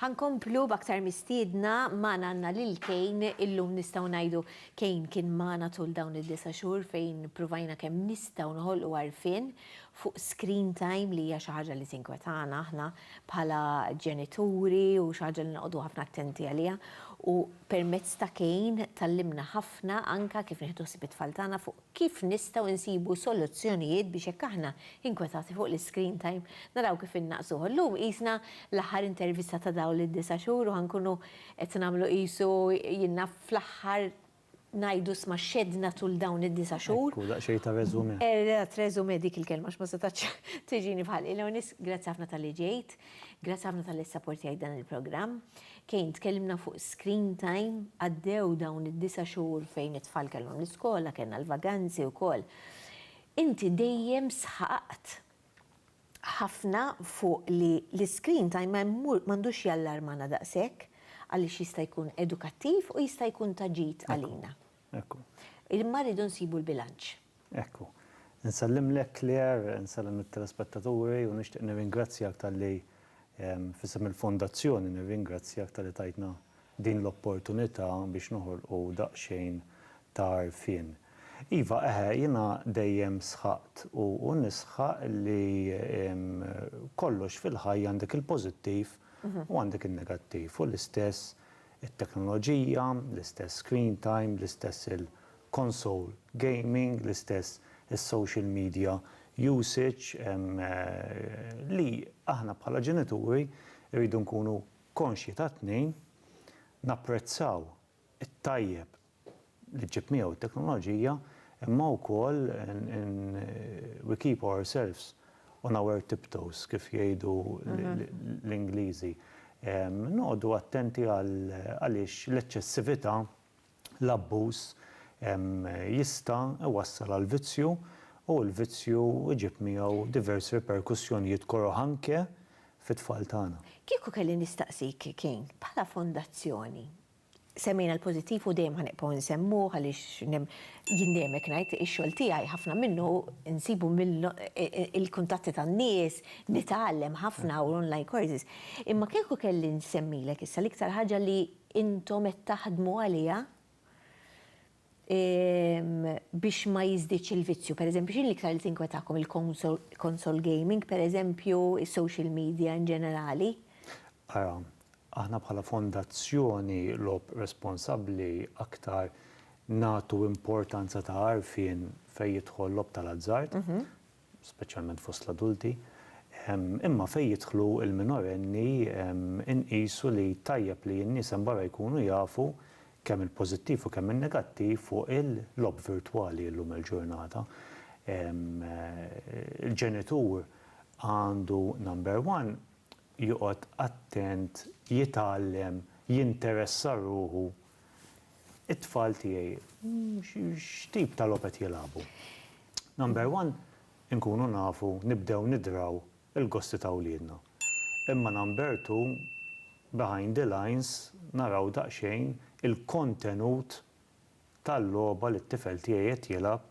Ħankomplu b'aktar mistiedna magħna għandna lil Kejn illum nistgħu ngħidu Kejn kien magħna tul dawn id-disa' xhur fejn pruvajna kemm nistgħu noħolqu għarfien fuq screen time li hija xi ħaġa li tinkwetana aħna bħala ġenituri u xi ħaġa li noqogħdu ħafna attenti għaliha u permezz ta' Kane tgħallimna ħafna anke kif nieħdu ħsieb it-tfal tagħna fuq kif nistgħu nsibu soluzzjonijiet biex jekk aħna inkwetati fuq l-iscreen time naraw kif innaqqsuh. Illum qisna l-aħħar intervista ta' dawn id-disa' xhur u ħa nkunu qed nagħmlu qisu jiena fl-aħħar ngħidu sma xeddna tul dawn id-disa' xhur. Ekku, daqsxejn ta' resumé. Eżatt, resumé, dik il-kelma għax ma setgħetx tiġini f'ħalqi. L-ewwel nett, grazzi ħafna talli ġejt, grazzi ħafna talli ssapportjajt dan il-programm. Kane, tkellimna fuq screen time, għaddew dawn id-disa' xhur fejn it-tfal kellhom l-iskola, kellna l-vaganzi wkoll. Inti dejjem sħaqt ħafna fuq li l-iscreen time m'għandux jallarmana daqshekk għaliex jista' jkun edukattiv u jista' jkun ta' ġid għalina. Imma rridu nsibu l-bilanċ. Ekku. Insellimlek Claire, insellem lit-telespettaturi u nixtieq nirringrazzjak talli f'isem il-Fondazzjoni nirringrazzjak talli tajtna din l-opportunità biex noħolqu daqsxejn ta' għarfien. Iva, eħe, jiena dejjem sħaqt u u nisħaq li kollox fil-ħajja għandek il-pożittiv u għandek in-negattiv u l-istess it-teknoloġija, l-istess screen time, l-istess il-console gaming, l-istess is-social media usage li aħna bħala ġenituri rridu nkunu Konxji ta' tnejn, napprezzaw it-tajjeb li ġġib miegħu t-teknoloġija, imma wkoll we keep ourselves on our tiptoes, kif jgħidu l-Ingliżi. Noqogħdu attenti għaliex l-eċċessività L-abbuż jista' iwassal għal vizzju u l-vizzju jġib miegħu diversi riperkussjonijiet koroh anke fit-tfal tagħna. Kieku kelli nistaqsik, King, bħala fondazzjoni, semmejna l-pożittiv u dejjem ħa nibqgħu nsemmuh għaliex jien dejjem hekk ngħid, ix-xogħol tiegħi ħafna minnu nsibu mill-kuntatti tan-nies, nitgħallem ħafna u l-online courses. Imma kieku kelli nsemmilek issa l-iktar ħaġa li intom qed taħdmu għaliha biex ma jiżdiedx il-vizzju? Per eżempju, x'inhi l-iktar li tinkwetakom, il-konsol gaming, per eżempju, is-social media in ġenerali? Ara, aħna bħala Fondazzjoni Logħob Responsabbli aktar nagħtu importanza ta' għarfien fejn jidħol logħob tal-azzard, speċjalment fost l-adulti, imma fejn jidħlu l-minorenni nqisu li tajjeb li n-nies hemm barra jkunu jafu kemm il-pożittiv u kemm in-negattiv fuq il-logħob virtwali illum il-ġurnata. Il-ġenitur għandu number one joqgħod attent jitgħallem jinteressa ruħu It-tfal tiegħi x'tip ta' logħob qed jilagħbu? Number one, inkunu nafu nibdew nidraw il-gosti ta' wliedna. Imma number two, behind the lines naraw daqsxejn il-kontenut tal-logħba li t-tifel tiegħi qed jilgħab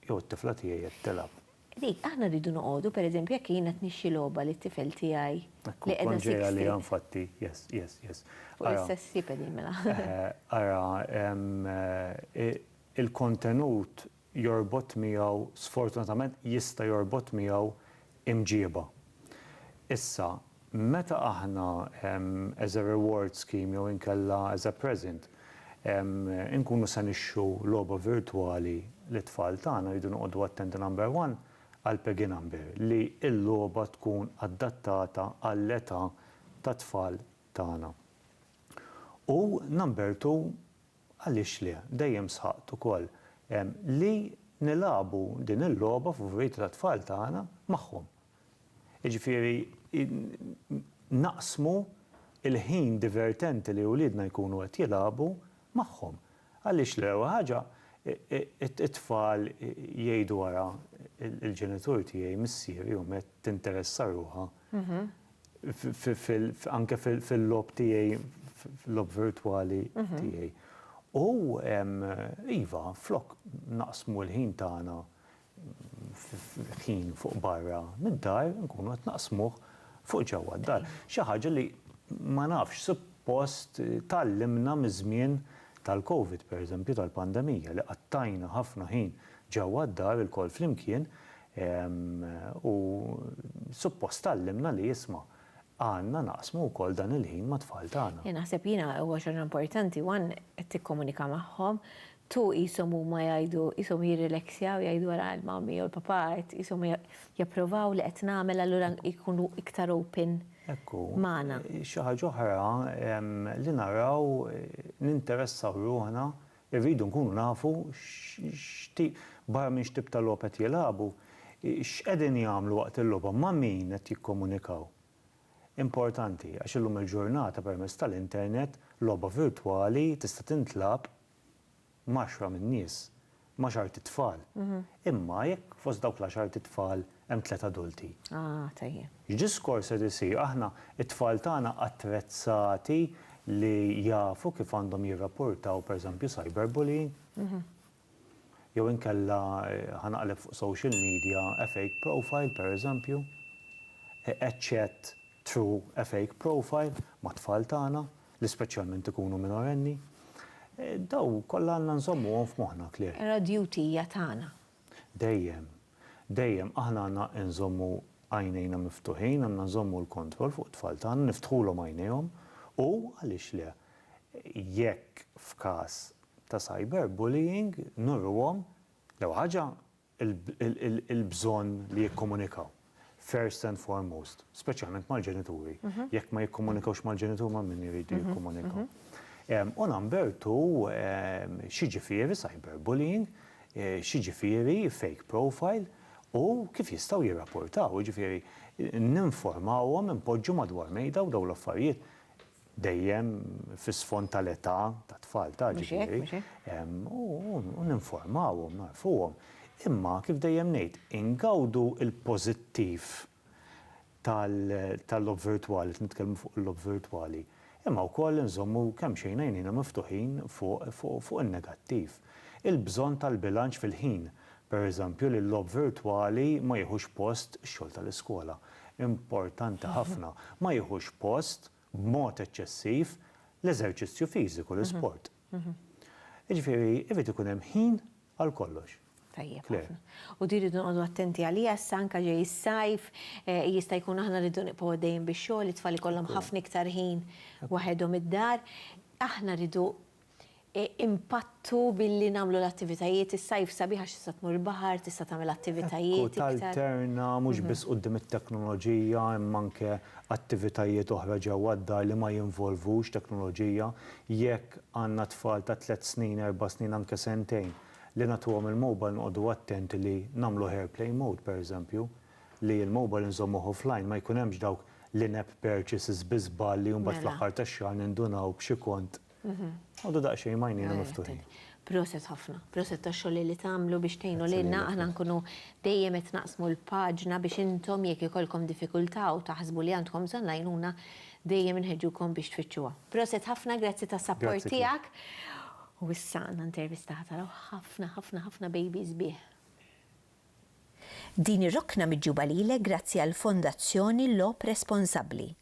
Jew it-tifla tiegħi qed tilgħab. Dik, aħna rridu noqogħdu, pereżempju, jekk jien qed nixxi logħba lit-tifel tiegħi li qiegħda sixtri. Kont ġej għaliha infatti, yes, yes, yes. Fuq l-istess sib qegħdin mela. Ara, il-kontenut jorbot miegħu, sfortunatament jista' jorbot miegħu imġiba. Issa, meta aħna, as a reward scheme jew inkella as a present, inkunu se nixtru logħba virtwali lit-tfal tagħna rridu noqogħdu attenti number one għal peggy number, li l-logħba tkun adattata għall-età tat-tfal tagħna. U number two, Għaliex le? Dejjem sħaqt ukoll li nilagħbu din il-logħba f'vojt tat-tfal tagħna magħhom. Jiġifieri naqsmu l-ħin divertenti li uliedna jkunu qed jilagħbu magħhom. Għaliex le? L-ewwel ħaġa t-tfal jgħidu ara l-ġenitur tiegħi, missieri, omm qed tinteressa ruħha anke fil-logħob tiegħi, fil-logħob virtwali tiegħi. U iva, flok naqsmu l-ħin tagħna, ħin fuq barra mid-dar, inkunu qed naqsmuh fuq ġewwa d-dar. Xi ħaġa li ma nafx, suppost tgħallimna miż-żmien tal-Covid, pereżempju tal-pandemija, li qattajna ħafna ħin ġewwa d-dar ilkoll flimkien, U suppost tgħallimna li isma', għandna naqsmu wkoll dan il-ħin mat-tfal tagħna. Naħseb jiena huwa xi ħaġa importanti, one, qed tikkomunika magħhom, two, qishom huma jgħidu, qishom jirrileksjaw jgħidu ara l-mommy jew il-papà qed qishom japprovaw li qed nagħmel allura jkunu iktar open magħna. Ekku, xi ħaġa oħra li naraw ninteressaw ruħna Irridu nkunu nafu x'tip, barra minn x'tip ta' logħob qed jilagħbu, x'qegħdin jagħmlu waqt il-logħba, ma' min qed jikkomunikaw. Importanti, għax illum il-ġurnata permezz tal-internet, logħba virtwali tista' tintlagħab m'għaxra min-nies, m'għaxart itfal. Imma jekk fost dawk l-għaxart itfal, hemm tliet adulti. Ah, tajjeb. X'diskors qed isir? Aħna, it-tfal tagħna attrezzati li jafu kif għandhom jirrapportaw pereżempju cyberbullying? Jew inkella ħa naqleb fuq social media a fake profile pereżempju? A chat through a fake profile mat-tfal tagħna li speċjalment ikunu minorenni? Dawn kollha għandna nżommuhom f'moħħna, Claire. Era duty hija tagħna. Dejjem, dejjem aħna għandna nżommu għajnejna miftuħin, għandna nżommu l-kontroll fuq it-tfal tagħna, niftħulhom għajnejhom u, għaliex le, jekk f'każ ta' cyberbullying nurruhom, l-ewwel ħaġa, il-bżonn li jikkomunikaw. first and foremost, speċjalment mal-ġenituri. Jekk ma jikkomunikawx mal-ġenituri ma' min iridu jikkomunikaw. U number two, xi ġifieri cyberbullying, xi ġifieri fake profile u kif jistgħu jirrapportaw, jiġifieri ninformawhom, inpoġġu madwar mejda u dawn l-affarijiet dejjem fi sfond tal-età tat-tfal ta' ġifieri, u ninformawhom, nagħrfuhom. Imma, kif dejjem ngħid, ingawdu l-pożittiv tal-logħob virtwali, qed nitkellmu fuq il-logħob virtwali, imma wkoll inżommu kemxejn għajnejna miftuħin fuq in-negattiv. Il-bżonn tal-bilanċ fil-ħin. Pereżempju, li l-logħob virtwali ma jiħux post ix-xogħol tal-iskola. Importanti ħafna, ma jiħux post, b'mod eċċessiv, l-eżerċizzju fiżiku, l-isport. Jiġifieri, irid ikun hemm ħin għal kollox. Tajjeb ħafna. U din irridu noqogħdu attenti għaliha issa anke ġej is-sajf, jista' jkun aħna rridu nibqgħu għaddejjin bix-xogħol, it-tfal ikollhom ħafna iktar ħin waħedhom id-dar. Aħna rridu impattu billi nagħmlu l-attivitajiet is-sajf sabiħ għax tista' tmur il-baħar, tista' tagħmel attivitajiet iktar. Ekku, talterna mhux biss quddiem it-teknoloġija imma anke attivitajiet oħra ġewwa d-dar li ma jinvolvux teknoloġija. Jekk għandna tfal ta' tliet snin, erba' snin, anke sentejn, li nagħtuhom il-mobile noqogħdu attenti li nagħmluh airplane mode pereżempju, li l-mobile inżommuh offline, ma jkun hemmx dawk l-in-app purchases bi żball li mbagħad fl-aħħar tax-xahar nindunaw b'xi kont Għodu daqxejn majnina miftuħin. Proset ħafna, proset ta' xogħol li tagħmlu biex tgħinu lilna aħna nkunu dejjem qed naqsmu l-paġna biex intom jekk ikollkom diffikultà u taħsbu li għandkom bżonn l-għajnuna dejjem inħeġġukom biex tfittxuha. Proset ħafna, grazzi tas-sapport tiegħek. U issa għandna intervista ħatara ħafna ħafna ħafna baby sbieħ. Din ir-rokna miġjuba lilek grazzi għall-Fondazzjoni Logħob Responsabbli.